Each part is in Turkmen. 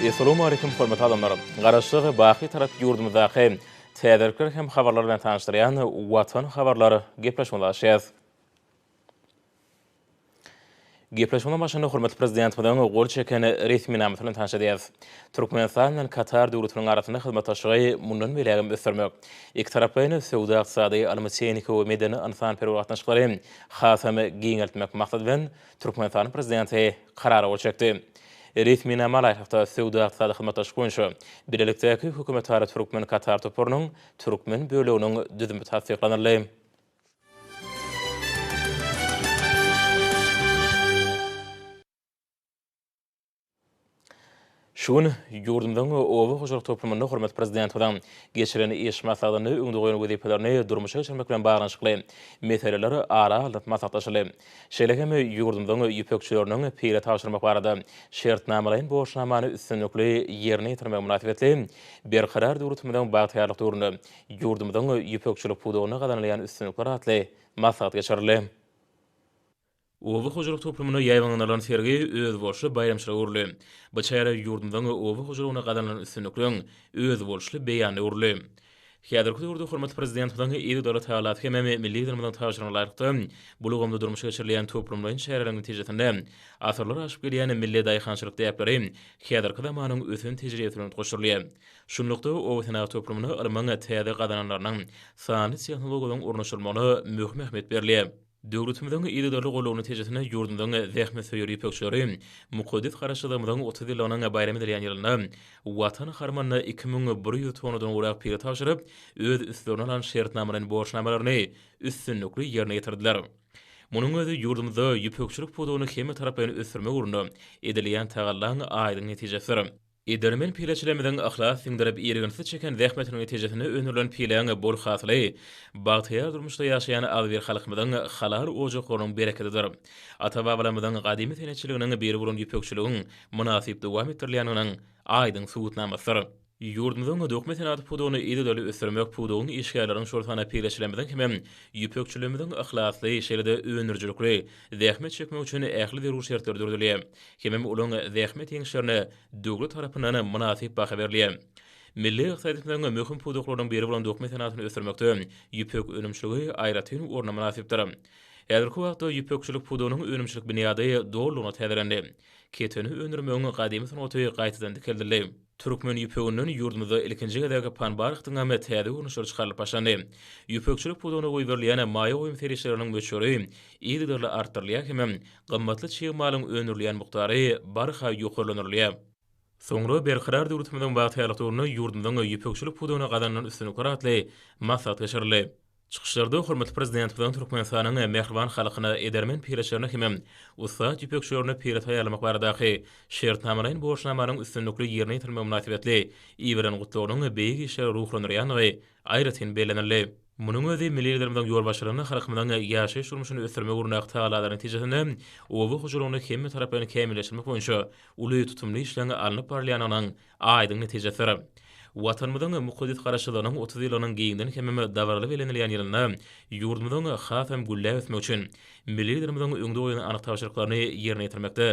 Essalamu Aleýkum hormatly adamlar! Garaşsyz, baky tarap ýurdumyzdaky täzelikler hem habarlar bilen tanyşdyrýan Watan habarlar gepleşigimizi açýas. Gepleşigiň başynda hormatly Prezidentimiziň gol çeken resminamasy bilen tanyş edýäris. Türkmenistan bilen Katar döwletiniň arasynda hyzmatdaşlygy mundan beýläk hem ösdürmek, ikitaraplaýyn söwda-ykdysady, ylmy-tehniki we medeni-ynsanperwer gatnaşyklary hasam giňeltmek maksady bilen, Türkmenistanyň Prezidenti Karara gol çekdi. Resminamalaýyklykda, Söwda-ykdysady hyzmatdaşlyk boýunça bilelikdäki hökümetara türkmen-katar toparynyň türkmen böleginiň düzümi tassyklanyldy. Şu gün ýurdumyzyň oba hojalyk toplumynda hormatly Prezidentimiziň geçiren iş maslahatynda öňde goýan wezipelerini durmuşa geçirmek bilen baglanyşykly meseleler ara alnyp maslahatlaşyldy. Şeýle hem ýurdumyzyň ýüpekçileriniň pile tabşyrmak barada şertnamalaýyn borçnamany üstünlikli ýerine ýetirmegi mynasybetli Berkarar döwletimiziň bagtyýarlyk döwründe ýurdumyzyň ýüpekçilik pudagynda gazanylýan üstünlikler atly maslahat geçirildi. Oba hojalyk toplumyna ýaýbaňlanylan sergi özboluşly baýramçylyga öwrüldi. Bu çäre ýurdumyzyň oba hojalygynda gazanylan üstünlikleriň özboluşly beýanyna öwrüldi. Häzirki döwürde hormatly Prezidentimiziň eziz döwlet halasy hem Milli Liderimiziň tabşyrygyna laýyklykda, bu ulgamda durmuşa geçirilýän toplumlaýyn çäreleriň netijesinde asyrlar aşyp gelýän milli daýhançylyk däpleri häzirki zamanyň ösen tejribesi bilen utgaşdyrylýar. Şunlukda, obasenagat toplumyna ylmyň täze gazananlarynyň, sanly tehnologiýalaryň ornaşdyrylmagyna möhüm ähmiýet berilýär. Döwletimiziň yzygiderli goldawy netijesinde ýurdumyzyň zähmetsöýer ýüpekçileri mukaddes Garaşsyzlygymyzyň otuz ýyllygynyň baýram edilýän ýylynda Watan harmanyna iki müň bir ýüz tonnadan gowrak pile tabşyryp, öz üstlerine alan şertnamalaýyn borçnamalaryny üstünlikli ýerine ýetirdiler. Munuň özi ýurdumyzda ýüpekçilik pudagyny hemmetaraplaýyn ösdürmek ugrunda edilýän tagallaň aýdyň netijesidir. Edermen pileçilerimiziň yhlas siňdirip irginsiz çeken zähmetiniň netijesinde öndürilen pileň bol hasyly bagtyýar durmuşda ýaşaýan agzybir halkymyzyň halal ojaklarynyň berekedidir. Ata-babalarymyzyň gadymy senetçiliginiň biri bolan ýüpekçiligiň mynasyp dowam etdirilýändiginiň aýdyň subutnamasydyr. Ýurdumyzyň dokma senagaty pudagyny yzygiderli ösdürmek pudagyň işgärleriň şol sanda pileçilerimiziň hem ýüpekçilerimiziň yhlasly, şeýle-de öndürijilikli, zähmet çekmek üçin ähli zerur şertler döredilýär hemem olaň zähmet ýeňişlerine döwlet tarapyndan mynasyp baha berilýär. Milli ykdysadyýetimiziň möhüm pudaklarynyň biri bolan dokma senatyny ösdürmekde ýüpek önümçiligi aýratyn orna mynasypdyr. Häzirki wagtda ýüpekçilik pudagynyň önümçilik binýady dolulygyna täzelendi. Keteni öndürmegiň gadymy sungaty gaýtadan dikeldildi. Türkmen ýüpeginden ýurdumyzda ilkinji gezek panbarhtyň hem täze görnüşleri çykarylyp başlandy. Ýüpekçilik pudagyna goýberilýän maýa goýum serişdeleriniň möçberi yzygiderli artdyrylýar hemem gymmatly çig malyň öndürilýän mukdary barha ýokarlandyrylýar. Soňra Berkarar döwletimiziň bagtyýarlyk döwründe ýurdumyzyň ýüpekçilik pudagyna gazanylan üstünlikler atly maslahat geçirildi. Çykyşlarda hormatly Prezidentimiziň Türkmenistanyň mähriban halkyna, edermen pireçilerine hem-de ussat ýüpekçilerine pire taýýarlamak baradaky Şertnamalaýyn borçnamanyň üstünlikli ýerine ýetirilmegi mynasybetli iberen gutlagynyň beýik işleri ruhlandyrýandygy aýratyn bellenildi. Munuň özi milli Liderimiziň ýolbaşçylygynda halkymyzyň ýaşaýyş-durmuşyny ösdürmek ugrunda tagalalarynyň netijesinde oba hojalygyny hemmetaraplaýyn kämilleşdirmek boýunça uly tutumly işleň alnyp barylýandygynyň Aýdyň netijedir. Watanymyzyň mukaddes Garaşsyzlygynyň otuz ýylynyň giňden hemem dabaraly bellenilýän ýylynda ýurdumyzyň hasam gülläp ösmegi üçin Milli Liderimiziň öňde goýan anyk tabşyryklaryny ýerine ýetirmekde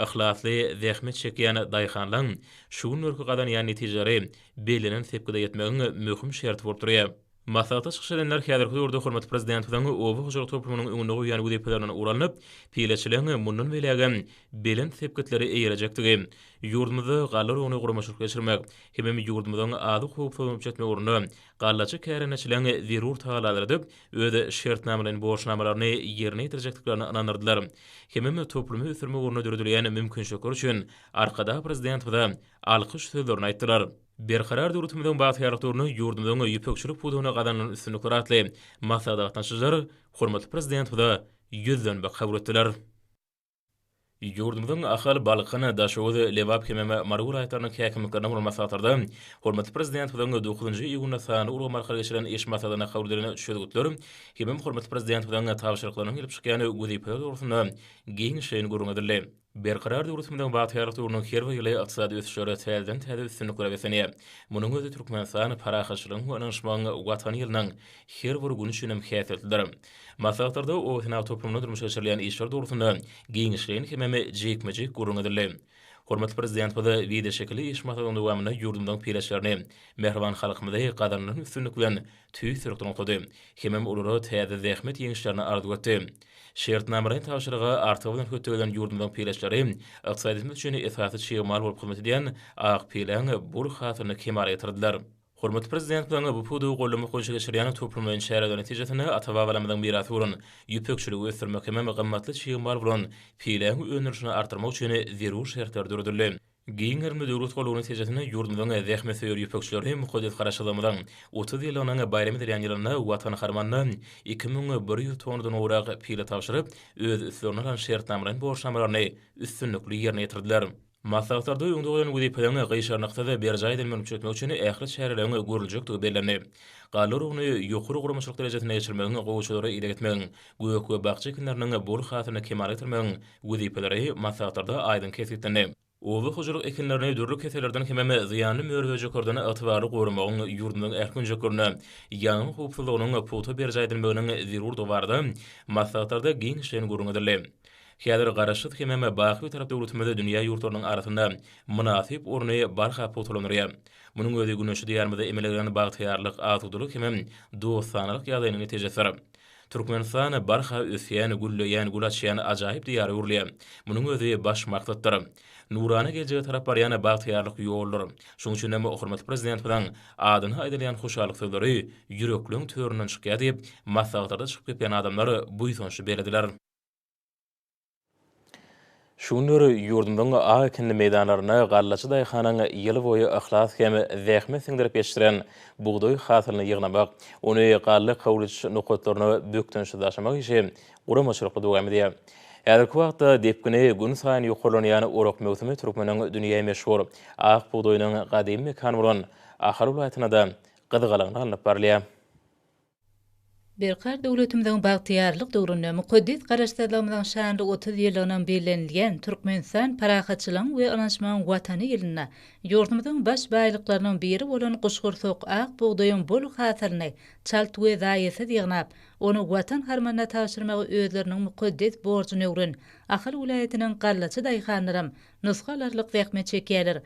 yhlasly zähmet çekýän daýhanlaň şu günlerki gazanýan netijeleri bellenen sepgide ýetmegiň möhüm şerti bolup durýar. Maslahata çykyş edenler häzirki döwürde hormatly Prezidentimiziň oba hojalyk toplumynyň öňünde goýan wezipelerinden ugur alnyp, pileçiligiň mundan beýlägem belent sepgitlere eýerejekdigi, ýurdumyzda galla urugyny guramaçylyk geçirmek, hemem ýurdumyzyň azyk howpsuzlygyny üpjün etmek ugrunda gallaçy kärendeçiligiň zerur tagallalary edip, öz şertnamalaýyn borçnamalaryny ýerine ýetirjekdiklerine ynandyrdylar. Hemem toplumy ösdürmek ugrunda döredilýän mümkinçilikler üçin Arkadag Prezidentimize alkyş sözlerini aýtdylar. Berkarar döwletimiziň bagtyýarlykdygyny, ýurdumyzyň ýüpekçilik pudagynda gazanylan üstünlikleri atly maslahata gatnaşyjylar hormatly Prezidentimize ýüzlenmek kabul etdiler. Ýurdumyzyň Ahal, Balkan, Daşoguz, Lebap hem-ä Mary welaýatlarynyň häkimliklerine bolan maslahatlarda hormatly Prezidentimiziň dokuzynjy iýunda sanly ulgam arkaly geçirilen iş maslahatynda kabul edilen çözgütler hemem hormatly Prezidentimiziň tabşyryklarynyň gelip çykýan wezipeler dogrusynda giňişleýin gürrüň edildi. Berkarar döwletimiziň bagtyýarlyk döwrüniň her bir ýyly ykdysady ösüşlere täzeden-täze üstünliklere beslenýär. Munuň özi Türkmenistan parahatçylygyň we ynanyşmagyň Watany ýylynyň her bir güni üçin hem häsiýetlidir. Maslahatlarda obasenagat toplumynda durmuşa geçirilýän işler dogrusynda giňişleýin hemem jikme-jik gürrüň edildi. Hormatly Prezidentimiz wideoşekilli iş maslahatynyň dowamynda ýurdumyzyň peýdaşlaryny, mähriban halkymyzy gazanylan üstünlik bilen tüýs syrykdan oklady hemem olara täze zähmet ýeňişlerini arzuw etdi. Şertnamalaýyn tabşyryga artygy bilen hötdegelen ýurdumyzyň pileçleri ykdysadyýetimiz üçin esasy çig mal bolup hyzmat edýän ak pileň bol hasylyny kemala getirdiler. Hormatly Prezidentimiziň bu pudagy goldamak boýunça geçirýän toplumlaýyn çäreleri netijesinde ata-babalarymyzyň mirasy bolan ýüpekçiligi ösdürmek hemem gymmatly çig mal bolan pileň öndürilişini artdyrmak üçin zerur şertler döredildi. Giň gerimli döwlet gullugy netijesinde ýurdumyzyň zähmetsöýer ýüpekçileri mukaddes Garaşsyzlygymyzyň otuz ýyllygynyň baýram edilýän ýylynda Watan harmanyna iki müň bir ýüz tonnadan gowrak pile tabşyryp, öz üstlerine alan şertnamalaýyn borçnamalaryny üstünlikli ýerine ýetirdiler. Maslahatlarda öňde goýlan wezipeleriň gyşarnyksyz berjaý edilmegini üpjün etmek üçin ähli çäreleriň görüljekdigi bellendi. Galla urugyny ýokary guramaçylyk derejesinde geçirmegiň, gowaçalara ideg etmegiň, gök we bakja ekinleriniň bol hasylyny kemala getirmegiň wezipeleri maslahatlarda aýdyň kesgitlendi. Oba hojalyk ekinlerini dürli kesellerden hemem zyýanly mör-möjeklerden ygtybarly goramagyň ýurdumyzyň ähli künjeklerinde ýangyn howpsuzlygynyň pugta berjaý edilmeginiň zerurdygy barada maslahatlarda giňişleýin gürrüň edildi. Häzir Garaşsyz hemem baky Bitarap döwletimiz dünýä ýurtlarynyň arasynda mynasyp orny barha pugtalandyrýar. Munuň özi Güneşli Diýarymyzda emele gelen bagtyýarlyk, asudalyk hemem dostanalyk ýagdaýynyň netijesidir. Türkmenistana barha ösýän, gülleýän, gül açýan ajaýyp diýara öwrülýär. Munuň özi baş maksatdyr. Nurana geljege tarap barýan bagtyýarlyk ýoldur. Şonuň üçin hem hormatly Prezidentimiziň adyna aýdylýan hoşallyk sözleri ýürekleň töründen çykýar diýip, maslahatlarda çykyp gepleýän adamlar buýsançly bellediler. Şu günler ýurdumyzyň ak ekinli meýdanlarynda gallaçy daýhanyň ýylboýy yhlas hem zähmet siňdirip ýetişdiren bugdaý hasylyny ýygnamak, ony galla kawlujyş nokatlaryna bökdençsiz daşamak işi guramaçylykly dowam edýär. Häzirki wagtda depgini gün saýyn ýokarlanýan orak möwsümi türkmeniň dünýä meşhur ak bugdaýynyň gadymy mekany bolan Ahal welaýatynda-da gyzgalaňly alnyp barylýar. Berkarar döwletimiziň bagtyýarlyk döwründe mukaddes Garaşsyzlygymyzyň şanly otuz ýyllygynyň bellenilýän Türkmenistan parahatçylygyň we ynanşmagyň Watany ýylynda ýurdumyzyň baş baýlyklarynyň biri bolan guşgursak ak bugdaýyň bol hasylyny çalt we zaýasyz ýygnap, ony Watan harmanyna tabşyrmagy özleriniň mukaddes borjuny öwren Ahal welaýatynyň gallaçy daýhanlaram nusga alarlyk zähmet çekýärler.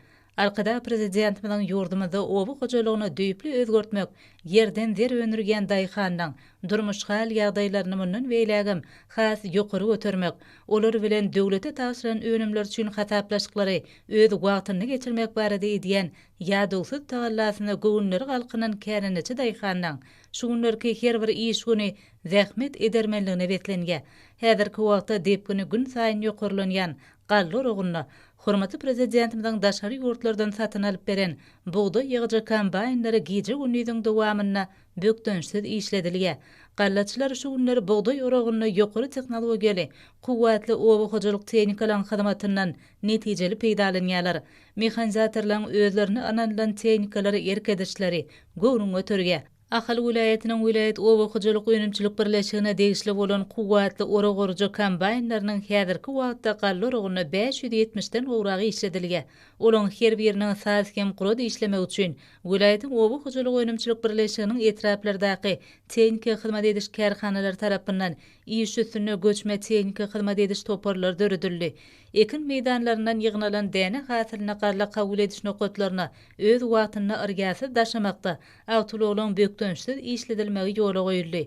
Arkadag Prezidentimiziň ýurdumyzda oba hojalygyny düýpli özgertmek, ýerden zer öndürýän daýhanyň durmuş hal-ýagdaýlaryny mundan beýlägem has ýokary götermek, olar bilen döwlete tabşyran önümler üçin hasaplaşyklary öz wagtynda geçirmek barada edýän ýadawsyz tagallasyna göwünleri galkynan kärendeçi daýhanyň şu günlerki her bir iş güni zähmet edermenligine beslenýär. Häzirki wagtda depgini günsaýyn ýokarlanýan Galla oragyna hormatly Prezidentimiziň daşary ýurtlardan satyn alyp beren bugdaý ýygyjy kombaýnlary gije-gündiziň dowamynda bökdençsiz işledilýär. Gallaçylar şu günler bugdaý oragyny ýokary tehnologiýaly, kuwwatly oba hojalyk tehnikalaryň hyzmatyndan netijeli peýdalanýarlar. Mehanizatorlaryň özlerine ynanylan tehnikalary erk edişleri göwnüňi göterýär. Ahal welaýatynyň welaýat oba hojalyk önümçilik birleşigine degişli bolan kuwwatly urug-urujy kombaýnlarynyň häzirki wagtda galla urugynda bäş ýüz ýetmiş den gowrak işledilge. Olaryň her biriniň saz hem grod işlemegi üçin welaýatyň oba hojalyk önümçilik birleşiginiň etraplardaky tehniki hyzmat ediş kärhanalary tarapyndan iş üstünde göçme tehniki hyzmat ediş toparlary döredildi. Ekin meýdanlaryndan ýygnalan däne hasylyny galla kabul ediş nokatlaryna öz wagtynda yrgasyz daşamakda Awtoulagylaryň bökdençsiz işledilmegi ýola goýuldy.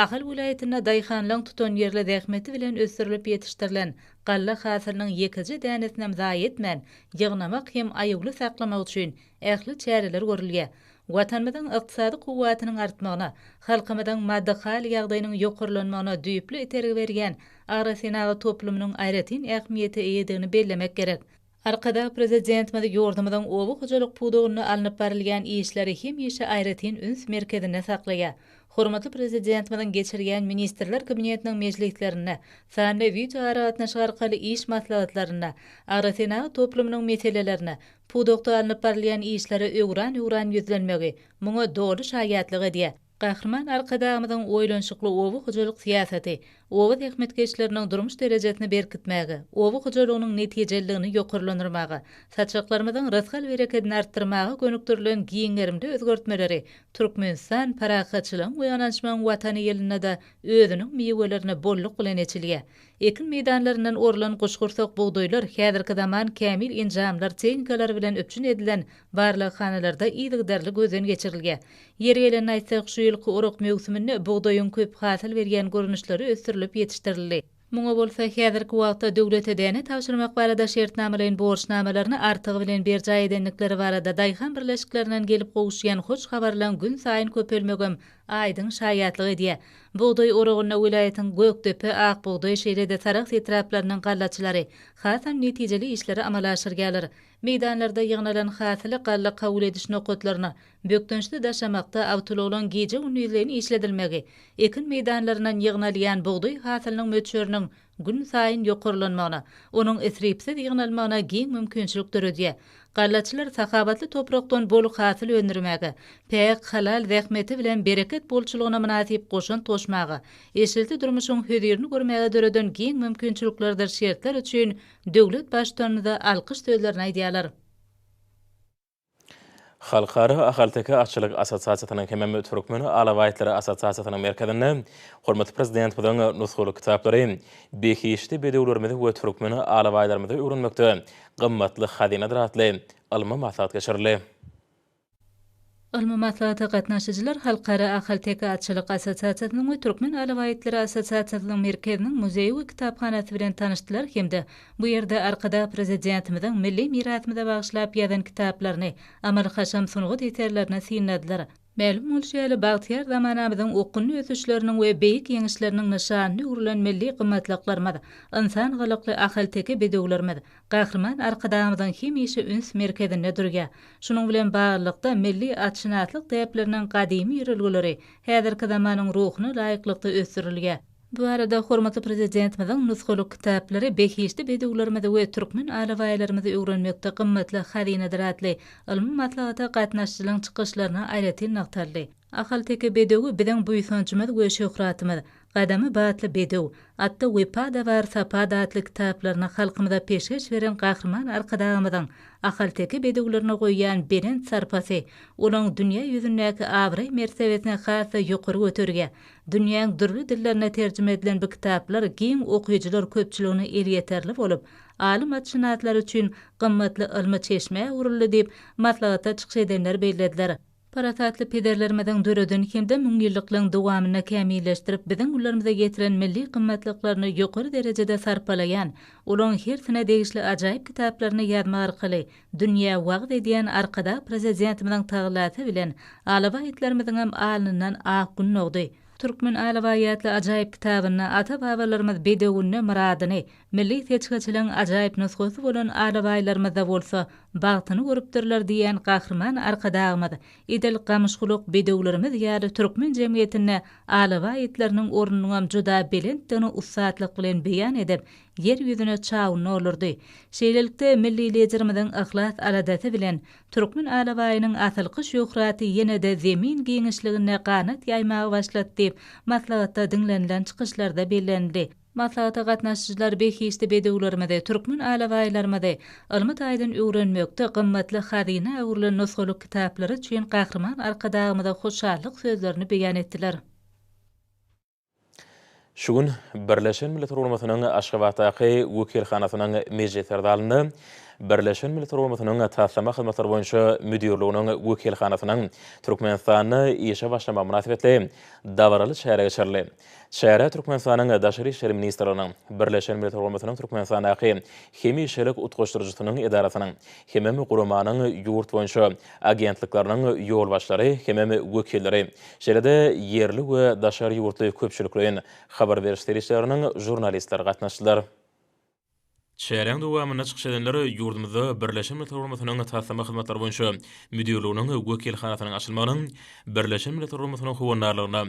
Ahal welaýatynda daýhanlaryň tutanýerli zähmeti bilen ösdürilip ýetişdirilen galla hasylynyň ýekeje dänesinem zaýa etmän, ýygnamak hem aýawly saklamak üçin ähli çäreler görülýär. Watanymyzyň ykdysady kuwwatynyň artmagyna, halkymyzyň maddy-haly ýagdaýynyň ýokarlanmagyna düýpli itergi berýän agrosenagat toplumynyň aýratyn ähmiýete eýedigini bellemek gerek. Arkadag Prezidentimiz ýurdumyzyň oba hojalyk pudagynda alnyp barylýan işleri hemişe aýratyn üns merkezinde saklaýar. Hormatly Prezidentimiziň geçirýän Ministrler Kabinetiniň mejlislerinde, sanly wideoaragatnaşyk arkaly iş maslahatlarynda agrosenagat toplumynyň meselelerine, pudakda alnyp barylýan işlere öwran-öwran ýüzlenmegi muňa doly şaýatlyk edýär. Gahryman Arkadagymyzyň oýlanyşykly oba hojalyk syýasaty oba zähmetkeşleriniň durmuş derejesini berkitmäge, oba hojalygynyň netijeliligini ýokarlandyrmaga, saçaklarymyzyň rysgal-berekedini artdyrmaga gönükdirilen giň gerimli özgertmeleri Türkmenistan parahatçylygyň we ynanyşmagyň Watany ýylynda-da özüniň miwelerini bolluk bilen eçilýär. Ekin meýdanlaryndan orlan guşgursak bugdaýlar häzirki zaman kämil enjamlar, tehnikalary bilen üpjün edilen barlaghanalarda yzygiderli gözden geçirilýär. Ýeri gelende aýtsak, şu ýylky orak möwsüminde bugdaýyň köp hasyl berýän görnüşleri ösdürilip ýetişdirildi. Muňa bolsa häzirki wagtda döwlete däne tabşyrmak barada şertnamalaýyn borçnamalaryny artygy bilen berjaý edendikleri barada daýhan birleşiklerinden gelip gowuşýan hoş habarlaryň günsaýyn köpelmegem aýdyň şaýatlyk edýär. Bugdaý oragynda welaýatyň Gökdepe, Akbugdaý şeýle-de Sarahs etraplarynyň gallaçylary hasam netijeli işleri amala aşyrýarlar. Meýdanlarda ýygnalan hasyly galla kabul ediş nokatlaryna bökdençli daşamakda awtoulaglaryň gije-gündiz-leýin işledilmegi, ekin meýdanlaryndan ýygnalýan bugdaý hasylynyň möçberiniň günsaýyn ýokarlanmagyna, onuň isripsiz ýygnalmagyna giň mümkinçilik döredýär. Gallaçylar sahawatly toprakdan bol hasyl öndürmäge, päk, halal zähmeti bilen bereket bolçulygyna mynasyp goşant goşmaga, eşilti durmuşyň hözirini görmäge döreden giň mümkinçiliklerdir şertler üçin döwlet Baştutanymyza alkyş sözlerini aýdýarlar. Halkara ahalteke atçylyk assosiasiýasynyň hemem Türkmen alabaýtlary assosiasiýasynyň merkezinde hormatly Prezidentimiziň nusgalyk kitaplary behişdi bedewlerimizi we türkmen alabaýlarymyzy öwrenmekde gymmatly hazynadyr atly ylmy maslahat geçirildi. Ylmy maslahata gatnaşyjylar Halkara ahalteke atçylyk assosiasiýasynyň we Türkmen alabaýtlary assosiasiýasynyň merkeziniň muzeýi we kitaphanasy bilen tanyşdylar hem-de Bu ýerde Arkadag Prezidentimiziň milli mirasymyza bagyşlap ýazan kitaplaryny, amaly-haşam sungat eserlerini synladylar. Mälim bolşy ýaly, bagtyýar zamanamyzyň okgunly ösüşleriniň we beýik ýeňişleriniň nyşanyna öwrülen milli gymmatlyklarymyz, ynsan gylykly ahalteke bedewlerimiz Gahryman Arkadagymyzyň hemişe üns merkezinde durýar. Şunuň bilen baglylykda, milli atşynaslyk däpleriniň gadymy ýörelgeleri häzirki zamanyň ruhuna laýyklykda ösdürilýär. Bu arada hormatly Prezidentimiziň nusgalyk kitaplary behişdi bedewlerimizi we türkmen alabaýlarymyzy öwrenmekde gymmatly hazynadyr atly ylmy maslahata gatnaşyjylaryň çykyşlarynda aýratyn nygtaldy. Ahalteke bedewi biziň buýsanjymyz we şöhratymyz, Gadamy batly bedew, Atda wepa-da bar, sapa-da atly kitaplaryny halkymyza peşgeş beren Gahryman Arkadagymyzyň ahalteke bedewlerine goýýan belent sarpasy olaryň dünýä ýüzündäki abraý-mertebesini has-da ýokary göterýär Dünýäň dürli dillerine terjime edilen bu kitaplar giň okyjylar köpçüligine elýeterli bolup, alym atşynaslary üçin gymmatly ylmy çeşmä öwrüldi diýip, maslahatda çykyş edenler bellediler. Parasatly pederlerimiziň döreden hem-de müňýyllyklygyň dowamynda kämilleşdirip biziň gullarymyza ýetiren milli gymmatlyklaryny ýokary derejede sarpalaýan, olaryň hersine degişli ajaýyp kitaplaryny ýazmak arkaly Dünýä wagyz edýän Arkadag Prezidentimiziň tagallasy bilen alabaýtlarymyzyňam alnyndan ak gün dogdy. Türkmen alabaýatly ajaýyp kitabynda ata-babalarymyz bedewinde myradyny, milli seçgiçiligiň ajaýyp nusgasy bolan alabaýlarymyzda bolsa bagtyny görüpdirler diýen Gahryman Arkadagymyz edil gamyşgulak bedewlerimiz ýaly türkmen jemgyýetinde alabaý itleriniň ornunyňam juda belentdigini ussatlyk bilen beýan edip, Ýer ýüzüne çawuny olurdy. Şeýlelikde, milli Liderimiziň yhlas-aladasy bilen türkmen alabaýynyň asylky şöhraty ýene-de Zemin giňişliginde ganat ýaýmaga başlady diýip, maslahatda diňlenilen çykyşlarda bellenildi. Maslahata gatnaşyjylar behişdi bedewlerimizi, türkmen alabaýlarymyzy ylmy taýdan öwrenmekde gymmatly hazyna öwrülen nusgalyk kitaplary üçin Gahryman Arkadagymyza hoşallyk sözlerini beýan etdiler. Şu gün Birleşen Milletler Guramasynyň Aşgabatdaky wekilhanasynyň mejlisler zalynda Birleşen Milletler Guramasynyň Taslama hyzmatlary boýunça müdirliginiň wekilhanasynyň Türkmenistanda işe başlamagy mynasybetli dabaraly çäre geçirildi. Çärä Türkmenistanyň Daşary işler ministrliginiň, Birleşen Milletler Guramasynyň Türkmenistandaky hemişelik utgaşdyryjysynyň edarasynyň hemem guramanyň ýurt boýunça agentlikleriniň ýolbaşçylary hemem wekilleri, şeýle-de ýerli we daşary ýurtly köpçülikleýin habar beriş serişdeleriniň žurnalistleri gatnaşdylar. Çäräň dowamynda çykyş edenler ýurdumyzda Birleşen Milletler Guramasynyň Taslama hyzmatlary boýunça müdirliginiň wekilhanasynyň açylmagynyň Birleşen Milletler Guramasynyň howandarlygyna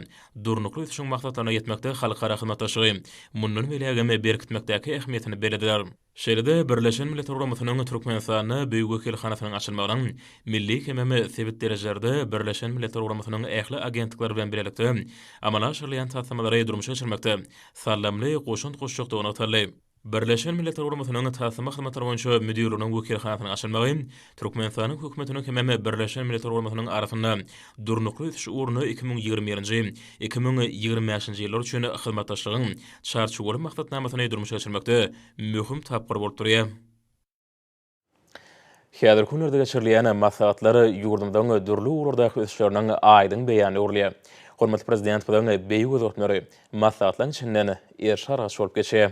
durnukly ösüşiň maksatlaryna ýetmekde halkara hyzmatdaşlygy mundan beýlägem berkitmekdäki ähmiýetini bellediler. Şeýle-de Birleşen Milletler Guramasynyň Türkmenistanda Büyük wekilhanasynyň açylmagynyň milli hemem sebit derejelerde Birleşen Milletler Guramasynyň ähli agentlikleri bilen bilelikde amala aşyrylýan taslamalary durmuşa geçirmekde saldamly goşant goşjakdygy nygtaldy. Birleşen Milletler Guramasynyň Taslama hyzmatlary boýunça müdirliginiň wekilhanasynyň açylmagy Türkmenistanyň Hökümetiniň hemem Birleşen Milletler Guramasynyň arasynda Durnukly ösüş ugrunda iki müň ýigrimi birinji, iki müň ýigrimi bäşinji ýyllar üçin hyzmatdaşlygyň Çarçuwaly maksatnamasyny durmuşa geçirmekde möhüm tapgyr bolup durýar. Häzirki günlerde geçirilýän maslahatlar ýurdumyzyň dürli ugurlardaky ösüşleriniň aýdyň beýany bolýar. Hormatly Prezidentimiziň beýik özgertmeleri maslahatlaryň içinden erşi-argaç bolup geçýär.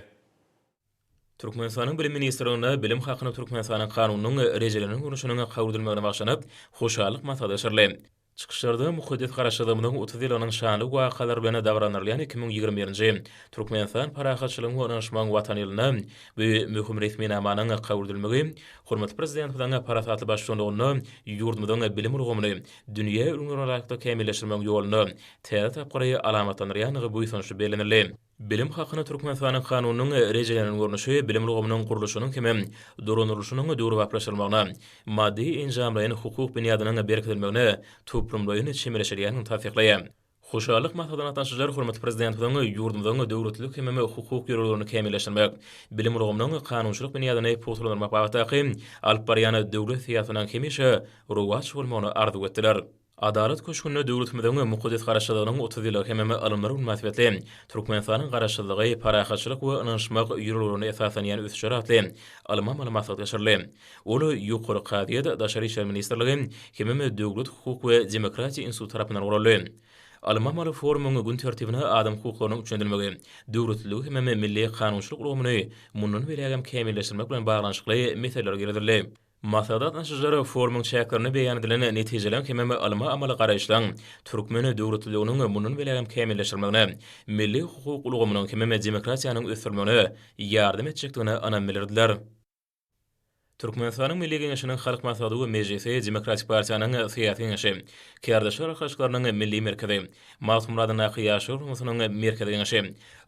Türkmenistanyň Bilim ministrliginde Bilim hakynda Türkmenistanyň Kanunynyň rejelenen görnüşiniň kabul edilmegine bagşlanyp, hoşallyk maslahaty geçirildi. Çykyşlarda mukaddes Garaşsyzlygymyzyň otuz ýyllygynyň şanly wakalary bilen dabaralandyrylýan iki müň ýigrimi birinji Türkmenistan parahatçylygyň we ynanyşmagyň Watany ýylynda bu möhüm resminamanyň kabul edilmegi hormatly Prezidentimiziň parasatly baştutanlygynda ýurdumyzyň bilim ulgamyny dünýä ülňülerine laýyklykda kämilleşdirmegiň ýolunda täze tapgyry alamatlandyrýandygy buýsançly bellenildi. Bilim hakyna Türkmenistanyň Kanunynyň rejelenen görnüşi bilim ulgamynyň gurluşynyň hem dolandyrylyşynyň döwrebaplaşdyrylmagyna, maddy-enjamlaýyn hukuk binýadynyň berkidilmegine toplumlaýyn çemeleşilýändigini tassyklaýar. Hoşallyk maslahatyna gatnaşyjylar hormatly Prezidentimiziň ýurdumyzyň döwletlilik hem hukuk ýörelgelerini kämilleşdirmek, bilim ulgamynyň kanunçylyk binýadyny pugtalandyrmak babatdaky alyp barýan döwlet syýasatynyň hemişe rowaç bolmagyny arzuw etdiler. Adalat köşgünde döwletimiziň mukaddes Garaşsyzlygynyň otuz ýyllygy hemem alymlar güni mynasybetli Türkmenistanyň Garaşsyzlygy, parahatçylyk we ynanyşmak ýörelgelerine esaslanýan ösüşler atly alymamaly maslahat geçirildi. Ol Ýokary kazyýet, Daşary işler ministrligi hemem Döwlet, hukuk we demokratiýa instituty tarapyndan guraldy. Alymamaly forumyň gün tertibine adam hukuklarynyň üçlendirilmegi, döwletliligi hemem milli kanunçylyk ulgamyny mundan beýlägem kämilleşdirmek bilen baglanyşykly meseleler girizildi. Maslahat gatnaşyjylar forumyň çäklerinde beýan edilen netijeliň hemem ylmy-amaly garaýyşlaryň türkmen döwletliliginiň mundan belägem kämilleşdirilmegine, milli hukuk ulgamynyň hemem demokratiýanyň ösdürilmegine ýardam etjekdigine ynam bildirdiler. Türkmenistanyň Milli Geňeşiniň Halk Maslahaty we Mejlisi, Demokratik partiýanyň Syýasy Geňeşi, Kärdeşler arkalaşyklarynyň Milli merkezi, Magtymguradyndaky Ýaşlar guramasynyň Merkezi Geňeşi,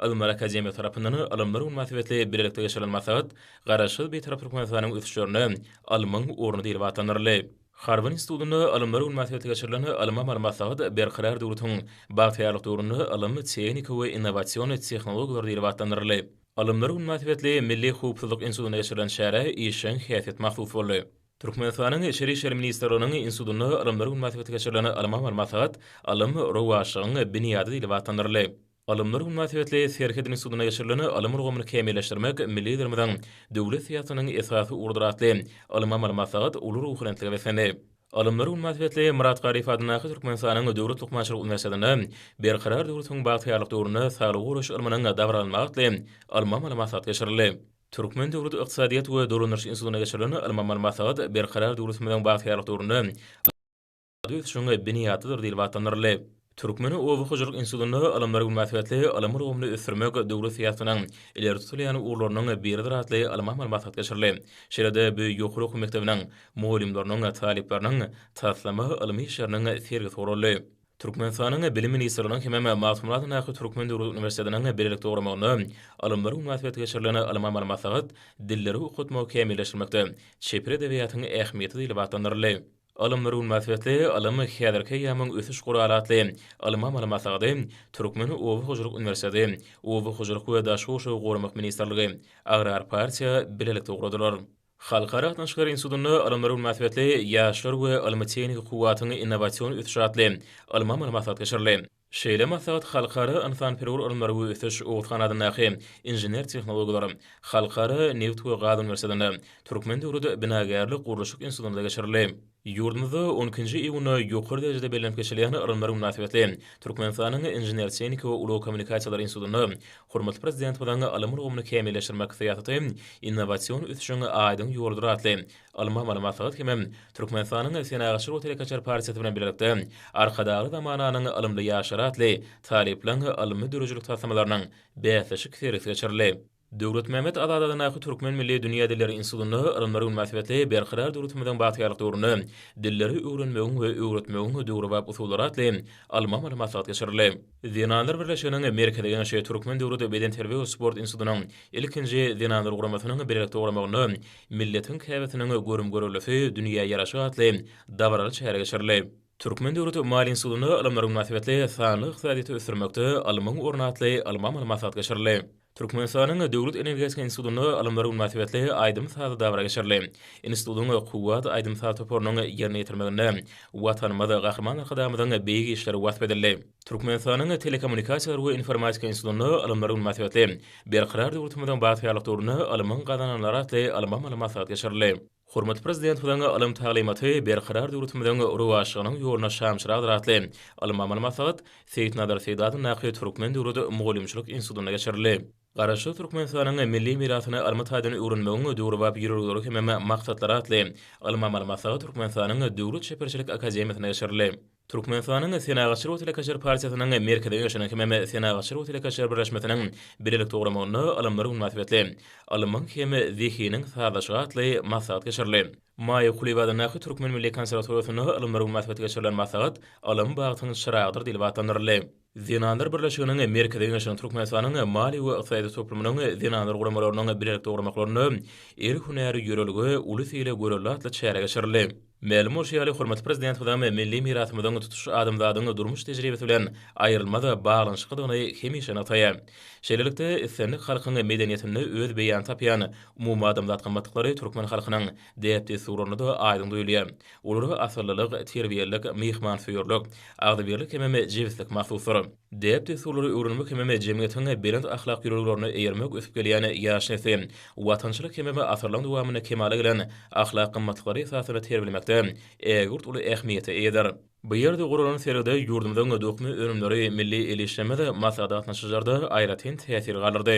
Ylymlar akademiýasy tarapyndan ylymlar güni mynasybetli bilelikde geçirilen maslahat Garaşsyz, Bitarap Türkmenistanyň ösüşlerinde ylmyň orny diýlip atlandyryldy. Harby institutynda alymlar güni mynasybetli geçirilen ylmy-amal maslahat Berkarar döwletiň bagtyýarlyk döwründe ylym, tehnika we innowasion tehnologiýalar diýlip atlandyryldy. Alymlar güni mynasybetli Milli howpsuzlyk institutynda geçirilen çärä işjeň häsiýet mahsus boldy. Türkmenistanyň Içeri işler ministrliginiň institutynda alymlar güni mynasybetli geçirilen ylmy-amal maslahat Ylym, rowaçlygyň binýady diýlip atlandyryldy. Alymlar güni mynasybetli Serhet institutynda geçirilen Ylym ulgamyny kämilleşdirmek, milli Liderimiziň döwlet syýasatynyň esasy ugrudyr atly ylmy-amaly maslahat uly ruhubelentlige beslendi. Alymlar güni mynasybetli Myrat Garyp adyndaky Türkmenistanyň Döwlet lukmançylyk uniwersitetinde Berkarar döwletiň bagtyýarlyk döwründe saglygy goraýyş ylmynyň dabaralanmagy atly ylmy-amaly maslahat geçirildi. Türkmen döwlet ykdysadyýet we dolandyryş institutynda geçirilen ylmy-amaly maslahat Berkarar döwletimiziň bagtyýarlyk döwründe ykdysady ösüşiň binýadydyr diýlip atlandyryldy. Türkmeniň oba hojalyk institutynda Alymlar güni mynasybetli ylym ulgamyny ösdürmek döwlet syýasatynyň ileri tutulýan ugurlarynyň biridir atly ylmy-amaly maslahat geçirildi. Şeýle-de bu ýokary okuw mekdebiniň mugallymlarynyň, talyplarynyň taslama ylmy işleriniň sergisi guraldy. Türkmenistanyň Bilim ministrliginiň hemem Magtymguly adyndaky Türkmen döwlet uniwersitetiniň bilelikde guramagynda Alymlar güni mynasybetli geçirilen ylmy-amaly maslahat Dilleri okatmagy kämilleşdirmekde çeper edebiýatyň ähmiýeti diýlip atlandyryldy. Ylym bir gün masyýetli ylym häzirki eýýamyň ösüş guraly atly ylmy amaly maslahaty Türkmen oba hojalyk uniwersiteti, Oba hojalyk we daş gurşawy goramak ministrligi, Agrar partiýa bilelikde ugradylar. Halkara gatnaşyklary institutynda Ylym bir gün masyýetli ýaşlar we ylmy-tehniki kuwwatyň innowasion ösüşi atly ylmy amaly maslahat geçirildi. Şeýle maslahat Halkara ynsanperwer ylymlar we ösüş Oguzhan adyndaky Inžener-tehnologlar, Halkara neft we gaz uniwersitetinde, Türkmen döwlet binagärlik-gurluşyk institutynda geçirildi. Ýurdumyzda on ikinji iýunda ýokary derejede bellenip geçilýän ylymlar mynasybetli Türkmenistanyň Inžener-tehniki we ulag kommunikasiýalary institutynda hormatly Prezidentimiziň Ylym ulgamyny kämilleşdirmek syýasaty innowasion ösüşiň aýdyň ýoludyr atly Ylmy amaly maslahat hemem Türkmenistanyň Senagatçylar we telekeçiler partiýasy bilen bilelikde Arkadagly zamananyň ylymly ýaşlary atly talyplaryň ylmy döredijilik taslamalarynyň bäsleşik sergisi geçirildi. Döwletmämmet Azat adyndaky Türkmen milli dünýä dilleri institutynda Ylymlar güni mynasybetli Berkarar döwletimiziň bagtyýarlyk döwründe dilleri öwrenmegiň we öwretmegiň döwrebap usullary atly ylmy amaly maslahat geçirildi. Zenanlar birleşiginiň Merkezi Geňeşi Türkmen döwlet bedenterbiýe we sport institutynyň ilkinji zenanlar guramasynyň bilelikde guramagynda Milletiň käbesiniň görüm-görellisi dünýä ýaraşy atly dabaraly çäre geçirildi. Türkmen döwlet maýa institutynda Alymlar güni mynasybetli Sanly ykdysadyýeti ösdürmekde alymyň orny atly ylmy-amaly maslahat geçirildi. Türkmenistanyň Döwlet energetika institutynda alymlar mynasybetli aýdym-sazly dabara geçirildi. Institutyň Kuwwat aýdym-saz toparynyň ýerine ýetirmeginde Watanymyz, Gahryman Arkadagymyzyň beýik işleri wasp edildi. Türkmenistanyň Telekommunikasiýalar we informatika institutynda alymlar mynasybetli Berkarar döwletimiziň bagtyýarlyk döwründe alymyň gazananlary atly alym-amaly maslahat geçirildi. Hormatly Prezidentimiziň ylym taglymaty Berkarar döwletimiziň rowaçlygynyň ýoluna şamçyragdyr atly ylmy-amaly maslahat Seýitnazar Seýdi adyndaky Türkmen döwlet mugallymçylyk institutynda geçirildi. Garaşsyz Türkmenistanyň milli mirasyny ylmy taýdan öwrenmegiň döwrebap ýörelgeleri hemem maksatlary atly ylmy-amaly maslahat Türkmenistanyň Döwlet çeperçilik akademiýasynda geçirildi. Türkmenistanyň Senagatçylar we telekeçiler partiýasynyň Merkezi Geňeşiniň hem Senagatçylar we telekeçiler birleşmesiniň bilelikde guramagynda Ylymlar güni mynasybetli Ylmyň hem zehiniň sazlaşygy atly maslahat geçirildi. Maýa Kulyýewa adyndaky Türkmen milli konserwatoriýasynda Ylymlar güni mynasybetli geçirilen maslahat Ylym bagtyň çyragydyr diýlip atlandyryldy. Zenanlar birleşiginiň Merkezi Geňeşiniň Türkmenistanyň maliýe we ykdysady toplumynyň zenanlar guramalarynyň bilelikde guramaklarynda El hünäri ýörelge, uly sile görelde atly çäre geçirildi. Mälim bolşy ýaly, hormatly Prezidentimiziň milli mirasymyzyň tutuş adamzadyň durmuş tejribesi bilen aýrylmaz baglanyşyklydygyny hemişe nygtaýar. Şeýlelikde, islendik halkyň medeniýetinde öz beýanyny tapýan umumadamzat gymmatlyklary türkmen halkynyň däp-dessurynda-da aýdyň duýulýar. Olara asyllylyk, terbiýelilik, myhmansöýerlik, agzybirlik hemem jebislik mahsusdyr. Däp-dessurlary öwrenmek hemem jemgyýetiň belent ahlak ýörelgelerine eýermek ösüp gelýän ýaş nesli watançylyk hemem asyrlaryň dowamynda kemala gelen ahlak gymmatlyklary esasynda terbiýelemekde ägirt uly ähmiýete eýedir. Bu ýerde guralan sergide ýurdumyzyň dokma önümleri, milli el işlerimiz maslahat-gatnaşyjylarda aýratyn täsir galdyrdy.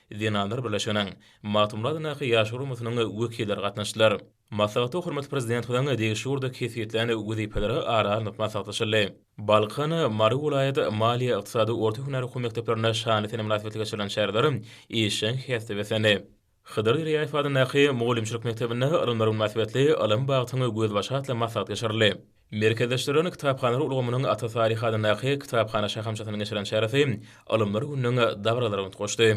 Zenanlar birleşiginiň, Magtymguladyndaky ýaşlar guramasynyň wekilleri gatnaşdylar. Maslahata hormatly Prezidentimiziň degişli ugurda kesgitlän wezipeleri ara alnyp maslahatlaşyldy. Balkan, Mary welaýat maliýe-ykdysady orta hünär okuw mekdeplerinde şanly sene mynasybetli geçirilen çäreler işjeň häsiýete beslendi. Hydyr Derýaýew adyndaky mugallymçylyk mekdebinde Ylymlar güni mynasybetli Ylym bagtyň gözbaşy atly maslahat geçirildi. Merkezleşdirilen kitaphanalary ulgamynyň Ata Saryh adyndaky kitaphana şahamçasynyň geçiren çäresi Alymlar gününiň dabaralaryna utgaşdy.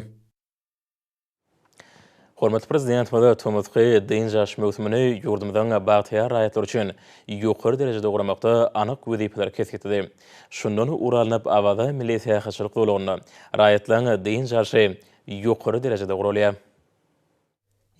Hormatly Prezidentimiz tomusky dynç alyş möwsümini ýurdumyzyň bagtyýar raýatlary üçin ýokary derejede guramakda anyk wezipeleri kesgitledi. Şundan ugur alnyp, Awaza milli syýahatçylyk zolagynda raýatlaryň dynç alşy ýokary derejede guralýar.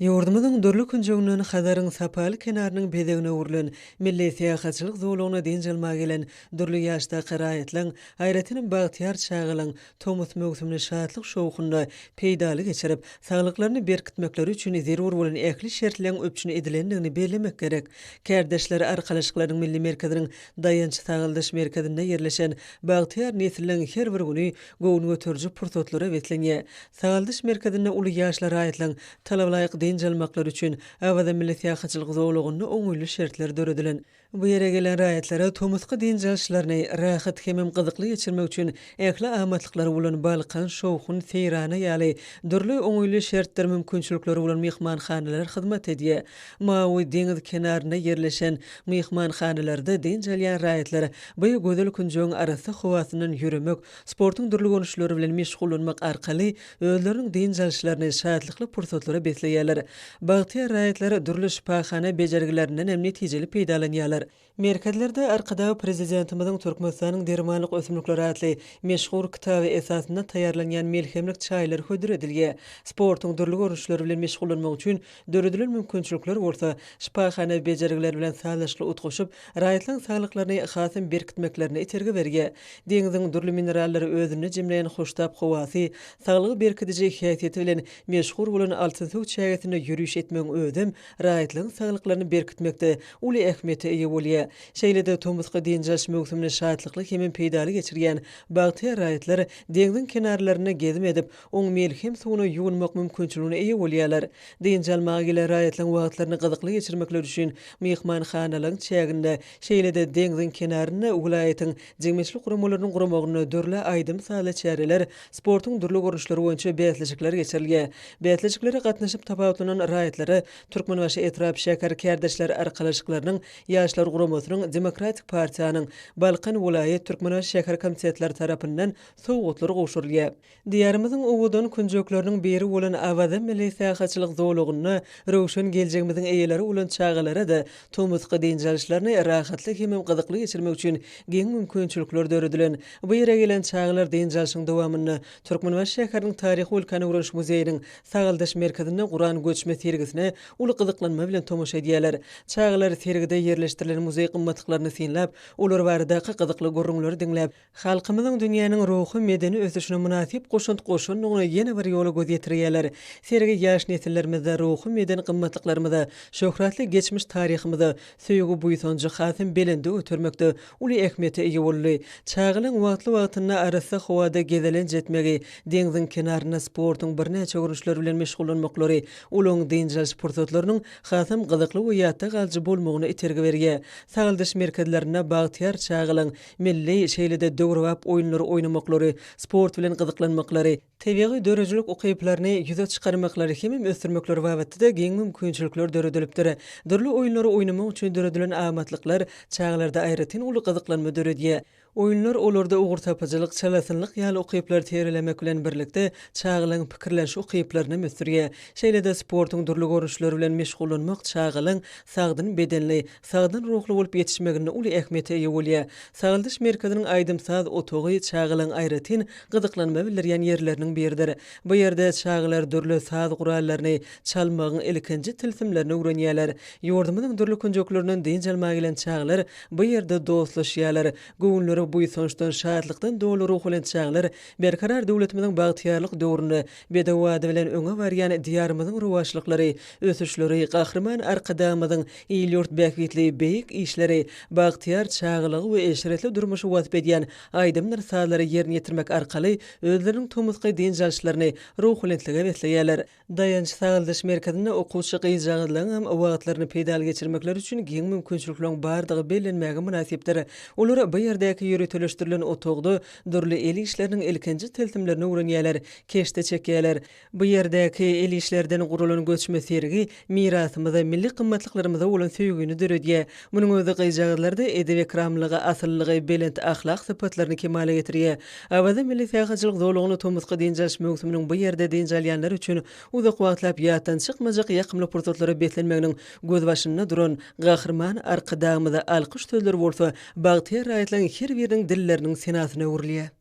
Ýurdumyzyň dürli künjeginden Hazaryň sapaly kenarynyň bezegine öwrülen milli syýahatçylyk zolagyna dynç almaga gelen dürli ýaşdaky raýatlaryň, aýratynam bagtyýar çagalaryň tomus möwsümini şatlyk-şowhunda, peýdaly geçirip, saglyklaryny berkitmekleri üçin zerur bolan ähli şertleň üpjün edilendigini bellemek gerek. Kärdeşler arkalaşyklarynyň milli merkeziniň Daýanç-sagaldyş merkezinde ýerleşen bagtyýar nesilleriň her bir güni göwün göteriji pursatlara beslenýär. Sagaldyş merkezinde uly ýaşly raýatlaryň talabalaýyk dynç almaklary üçin Awaza milli syýahatçylyk zolagynda oňaýly şertler döredilen. Bu ýere gelen raýatlara tomusky dynç alyşlaryny rahat hemem gyzykly geçirmek üçin ähli amatlyklary bolan Balkan, Şowhun, Seýrana ýaly dürli oňaýly şertler mümkinçilikleri bolan myhmanhanalar hyzmat edýär. Mawy deňiz kenarynda ýerleşen myhmanhanalarda dynç alýan raýatlar bu gözel künjegiň arassa howasyndan ýöremek, sportuň dürli görnüşleri bilen meşgullanmak arkaly özleriniň dynç alyşlaryny şatlykly pursatlara besleýärler. Bagtyýar raýatlar dürli şypahana bejergilerinden hem netijeli peýdalanýarlar. Merkezlerde Arkadag Prezidentimiziň Türkmenistanyň dermanlyk ösümlikleri atly meşhur kitaby esasynda taýýarlanýan melhemlik çaýlar hödür edilýär. Sportuň dürli görnüşleri bilen meşgullanmak üçin Döredilen mümkinçilikler bolsa, şypahana bejergiler bilen sazlaşykly utgaşyp, raýatlaryň saglyklaryny hasam berkitmeklerine itergi berýär. Deňziň dürli minerallary özünde jemleýän hoştap howasy, saglygy berkidiji häsiýeti bilen meşhur bolan Altynsöw çägesinde ýöriş etmegiň özem raýatlaryň saglyklaryny berkitmekde uly ähmiýete eýe bolýar. Şeýle-de tomusky dynç alyş möwsümini şatlykly hemem peýdaly geçirýän bagtyýar raýatlar deňziň kenarlarynda gezim edip, oň melhem suwuna ýuwunmak mümkinçiligine eýe bolýarlar. Dynç almaga gelen raýatlaryň wagtlaryny gyzykly geçirmekleri üçin myhmanhanalaryň çäginde, şeýle-de deňziň kenarynda welaýatyň jemgyýetçilik guramalarynyň guramagynda dürli aýdym-sazly çäreler, sportuň dürli görnüşleri boýunça bäsleşikler geçirilýär. Bäsleşiklere gatnaşyp tapawutlanan raýatlara Türkmenbaşy etrap şäher kärdeşler arkalaşyklarynyň Ýaşlar guramasynyň Demokratik partiýanyň Balkan welaýat Türkmenbaşy şäher komitetlary tarapyndan sowgatlar gowşurylýar. Diýarymyzyň owadan künjekleriniň biri bolan Awaza milli syýahatçylyk zolagynda röwşen geljegimiziň eýeleri bolan çagalara-da tomusky dynç alyşlaryny rahatly hemem gyzykly geçirmek üçin giň mümkinçilikler döredilen bu ýere gelen çagalar dynç alşyň dowamynda Türkmenbaşy şäheriniň Taryhy-ülkäni öwreniş muzeýiniň Sagaldaş merkezinde guran göçme sergisine uly gyzyklanma bilen tomaşa edýärler. Çagalar sergide ýerleşdirilen muzeý gymmatlyklaryny synlap, olar baradaky gyzykly gürrüňleri diňläp, halkymyzyň dünýäniň ruhy-medeni ösüşine mynasyp goşant goşandygyna ýene bir ýola göz ýetirýärler. Sergi ýaş nesillerimize, ruhy-medeni gymmatlyklarymyza, şöhratly geçmiş taryhymyza söýgi-buýsanjy hasam belende götermekde uly ähmiýete eýe boldy. Çagalaryň wagtly-wagtynda arassa howada gezelenç etmegi, deňziň kenarynda sportuň birnäçe görnüşleri bilen meşgullanmaklary olaryň dynç alyş pursatlarynyň hasam gyzykly we ýatda galyjy bolmagyna itergi berýär. Sagaldyş merkezlerinde bagtyýar çagalaryň Milli, şeýle-de döwrebap oýunlary oýnamaklary, sport bilen gyzyklanmaklary, tebigy döredijilik ukyplaryny ýüze çykarmaklary hemem ösdürmekleri babatda-da giň mümkinçilikler döredilipdir. Dürli oýunlary oýnamak üçin döredilen amatlyklar çagalarda aýratyn uly gyzyklanma döredýär. Oýunlar olarda ugurtapyjylyk, çalasynlyk ýaly ukyplary tirelemek bilen birlikde, çagalaryň pikirleniş ukyplarynam ösdürýär. Şeýle-de sportuň dürli görnüşleri bilen meşgullanmak çagalaryň sagdyn bedenli, sagdyn ruhly bolup ýetişmeginde uly ähmiýete eýe bolýar. Sagaldyş merkeziniň aýdym-saz otagy çagalaryň aýratyn gyzyklanma bildirýän ýerleriniň biridir. Bu ýerde çagalar dürli saz gurallaryny çalmagyň ilkinji tilsimlerini öwrenýärler. Ýurdumyzyň dürli künjeklerinden dynç almaga gelen çagalar bu ýerde dostlaşýarlar. Göwünleri buýsançdan, şatlykdan doly ruhubelent çagalar Berkarar döwletimiziň bagtyýarlyk döwründe Bedew ady bilen öňe barýan Diýarymyzyň rowaçlyklary, ösüşleri, Gahryman Arkadagymyzyň il-ýurt bähbitli beýik işleri, bagtyýar çagalygy we eşretli durmuşy wasp edýän aýdymdyr-sazlary ýerine ýetirmek arkaly özleriniň tomusky dynç alyşlaryny ruhubelentlige besleýärler. Daýanç-sagaldyş merkezinde okuwçy gyzjagazlaryň hem wagtlaryny peýdaly geçirmekleri üçin giň mümkinçilikleriň bardygy bellenmäge mynasypdyr. Olar bu ýerdäki ýöriteleşdirilen otagda Dürli el işleriniň ilkinji tilsimlerini öwrenýärler, keşde çekýärler. Bu ýerdäki el işlerden guralan göçme sergi mirasymyza, milli gymmatlyklarymyza bolan söýgini döredýär. Munuň özi gyzjagazlarda edep-ekramlygy, asyllygy, belent ahlak sypatlaryny kemala getirýär. Awaza milli syýahatçylyk zolagyny tomusky dynç alyş möwsüminiň bu ýerde dynç alýanlar üçin uzak wagtlap ýatdan çykmajak ýakymly pursatlara beslenmeginiň gözbaşynda duran Gahryman Arkadagymyza alkyş sözleri bolsa Bagtyýar raýatlaryň her biriniň dilleriniň senasyna öwrülýär.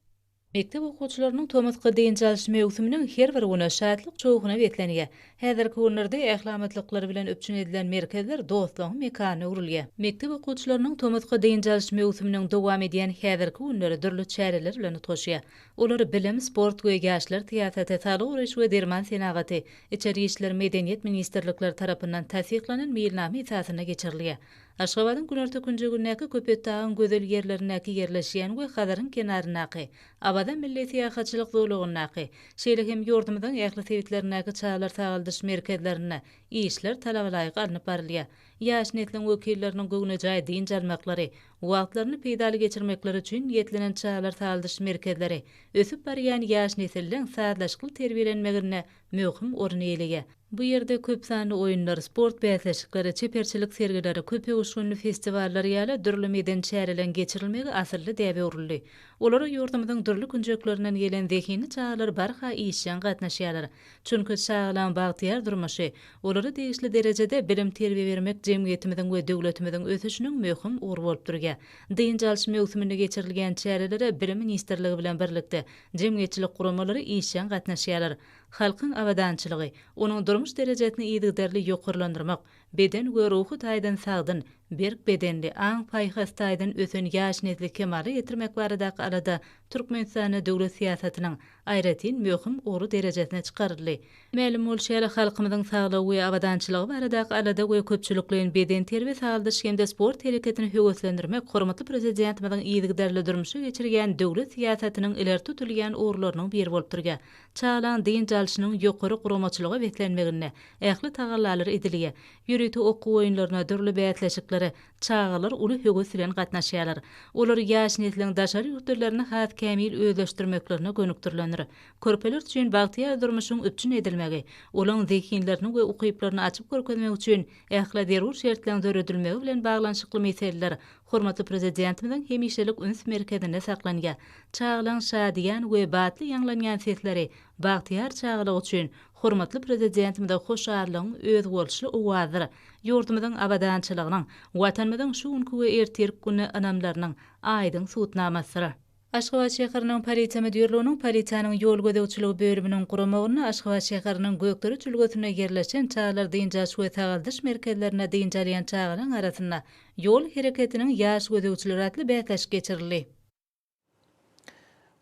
Mekdep okuwçylarynyň tomusky dynç alyş möwsüminiň her bir güni şatlyk şowhuna beslenýär. Häzirki günlerde ählametlikler bilen üpjün edilen merkezler dostlugyň mekanyna öwrülýär. Mekdep okuwçylarynyň tomusky dynç alyş möwsüminiň dowam edýän häzirki günleri dürli çäreler bilen utgaşýar. Olar bilim, sport we ýaşlar syýasaty, saglygy goraýyş we derman senagaty, içeri işler, medeniýet ministrlikleri tarapyndan tassyklanan meýilnama esasynda geçirilýär. Aşgabadyň günorta künjegindäki Köpetdagyň gözel ýerlerindäki ýerleşýän we Hazaryň kenaryndaky Awaza milli syýahatçylyk zolagyndaky, şeýle hem ýurdumyzyň ähli sebitlerindäki çagalar sagaldyş merkezlerinde işler talabalaýyk alnyp barylýar. Ýaş nesliň wekilleriniň göwnejaý dynç almaklary, wagtlaryny peýdaly geçirmekleri üçin niýetlenen çagalar sagaldyş merkezleri ösüp barýan ýaş nesliň sazlaşykly terbiýelenmeginde möhüm orun eýeleýär. Bu ýerde köp sanly oýunlar, sport bäsleşikleri, çeperçilik sergileri, köp öwüşginli festiwallar ýaly dürli medeni çäreleň geçirilmegi asylly däbe öwrüldi. Olara ýurdumyzyň dürli künjeklerinden gelen zehinli çagalar barha işjeň gatnaşýarlar. Çünki çagalaň bagtyýar durmuşy, olara degişli derejede bilim-terbiýe bermek jemgyýetimiziň we döwletimiziň ösüşiniň möhüm ugry bolup durýar. Dynç alyş möwsüminde geçirilýän çärelere Bilim ministrligi bilen birlikde jemgyýetçilik guramalary işjeň gatnaşýarlar. Halkyň abadançylygy, onuň durmuş derejesini yzygiderli ýokarlandyrmak, beden we ruhy taýdan sagdyn, berk bedenli, aň-paýhas taýdan ösen ýaş nesli kemala getirmek baradaky alada Türkmenistanda döwlet syýasatynyň aýratyn möhüm ugry derejesine çykaryldy. Mälim bolşy ýaly, halkymyzyň saglygy we abadançylygy baradaky alada we köpçülikleýin bedenterbiýe-sagaldyş hem-de sport hereketini höweslendirmek hormatly Prezidentimiziň yzygiderli durmuşa geçirýän döwlet syýasatynyň ileri tutulýan ugurlarynyň biri bolup durýar. Çagalygyň dynç alşynyň ýokary guramaçylyga beslenmeginde ähli tagallalar edilýär. Ýörite okuw oýunlaryna, dürli bäsleşiklere çagalar uly höwes bilen gatnaşýarlar. Olar ýaş nesliň daşary ýurt dillerini has kämil özleşdirmeklerine gönükdirilendir. Körpeler üçin bagtyýar durmuşyň üpjün edilmegi, olaň zehinlerini we ukyplaryny açyp görkezmek üçin ähli zerur şertleň döredilmegi bilen baglanyşykly meseleler hormatly Prezidentimiziň hemişelik üns merkezinde saklanýar. Çagalaň şadyýan we batly ýaňlanýan sesleri bagtyýar çagalyk üçin hormatly Prezidentimize hoşallygyň özboluşly owazydyr, ýurdumyzyň abadançylygynyň, Watanymyzyň şu günki we ertirki güne ynamlarynyň aýdyň subutnamasydyr. Aşgabat şäheriniň polisiýa müdirliginiň polisiýanyň ýol gözegçiligi bölüminiň guramagynda Aşgabat şäheriniň Gökdereç ülgesinde ýerleşen çagalar dynç alyş we sagaldyş merkezlerinde dynç alýan çagalaryň arasynda Ýol hereketiniň ýaş gözegçileri atly bäsleşik geçirildi.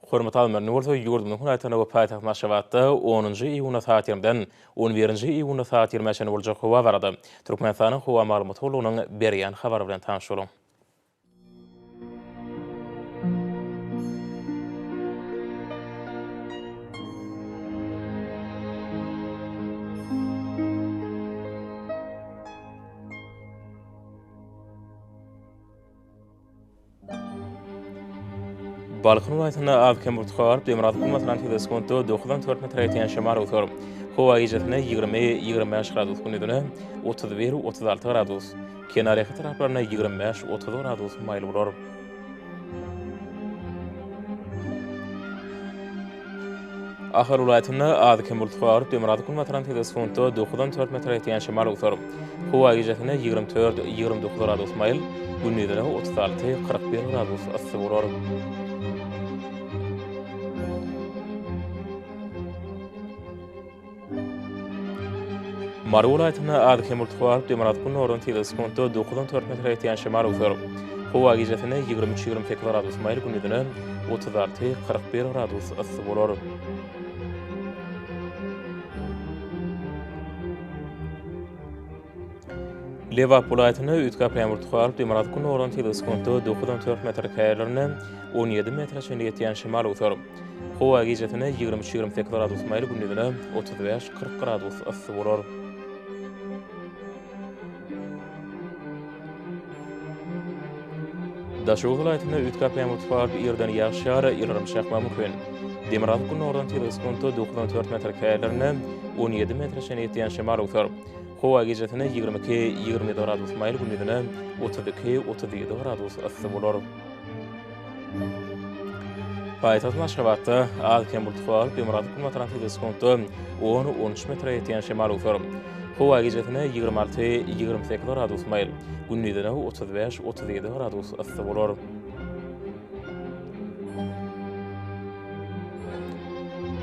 Hormat Almany bolsa ýurdumyzyň welaýatynda we paýtagt Aşgabatda onunjy iýunda sagat ýigrimden on birinji iýunda sagat ýigrimä çenli boljak howa barada Türkmenistanyň howa maglumat gullugynyň berýän habary bilen tanyş boluň. Balkan welaýatynda az-kem urtga garyp, demirgazyk bulmasyna tizligi sekuntda dokuzdan dört metre ýetýän şemal öwser. Howa gijesi-ne ýigrimi, ýigrimi bäş gradus, gündizine otuz bir, otuz alty gradus. Kenarýaka taraplarynda ýigrimi bäş, otuz gradus maýyl bolar. Ahal welaýatynda az-kem bulut garyp, demirgazyk günbatardan tebigy sekuntda dokuzdan dört metre ýetýän şemal öwser. Howa gijesine ýigrimi dört, ýigrimi dokuz gradus maýyl, gündizine otuz alty, kyrk bir gradus yssy bolar. Mary welaýatynda az kömürturk gazyp, demirgazyk gündogardan sekiz sekuntda dokuz on dört metre ýetýän şemal öwser. Howa gijesine ýigrimi üç-ýigrimi sekiz gradus maýyl, gündizine otuz alty, kyrk bir gradus yssy bolar. Lebap welaýatynda üç gap ýagmyr tukaryp, demirgazyk günordan tel sekuntda dokuz on dört metr, käýerlerinde on ýedi metre çenli ýetýän şemal öwser. Howa gijesine ýigrimi üç, ýigrimi sekiz gradus maýyl, gündizine otuz bäş, kyrk gradus yssy bolar. Daşoguz welaýatynda üç gap ýagmyr tukaryp, ýerden ýagyş ýar, ýyldyrym çakmagy mümkin. Demirgazyk günordan tel sekuntda dokuz on dört metr, käýerlerinde on ýedi metre çenli ýetýän şemal öwser. Howa gijesine ýigrimi iki, ýigrimi ýedi gradus maýyl, gündizine otuz iki, otuz ýedi gradus yssy bolar. Paýtagt Aşgabatda az-kem bulutly howa bolup, demirgazyk günbatardan tizligi sekuntda on, on üç metre ýetýän şemal öwser. Howa gijesine ýigrimi alty, ýigrimi sekiz gradus maýyl, gündizine otuz bäş, otuz ýedi gradus yssy bolar.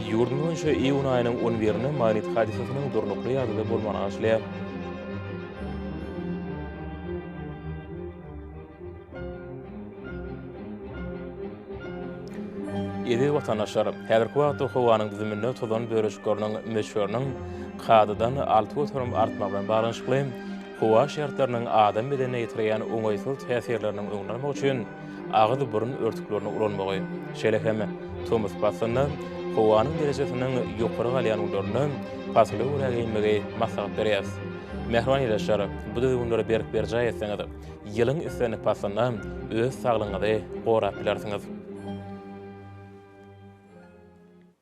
Ýurdumyz boýunça iýun aýynyň on birinde magnit hadysasynyň durnukly ýagdaýda bolmagyny arzuwlaýar. Eziz watandaşlar, häzirki wagtda howanyň düzüminde tozan bölejikleriniň möçberiniň kadadan alty göterim artmagy bilen baglanyşykly, howa şertleriniň adam bedenine ýetirýän oňaýsyz täsirleriniň öňüni almak üçin agyz-burun örtüklerini ulanmagy, şeýle hem tomus paslynda, howanyň derejesiniň ýokary galýan günlerinde pasyla görä geýinmegi maslahat berýäris. Mähriban ildeşler, bu düzgünleri berk berjaý etseňiz, ýylyň islendik paslynda öz saglygyňyzy gorap bilersiňiz.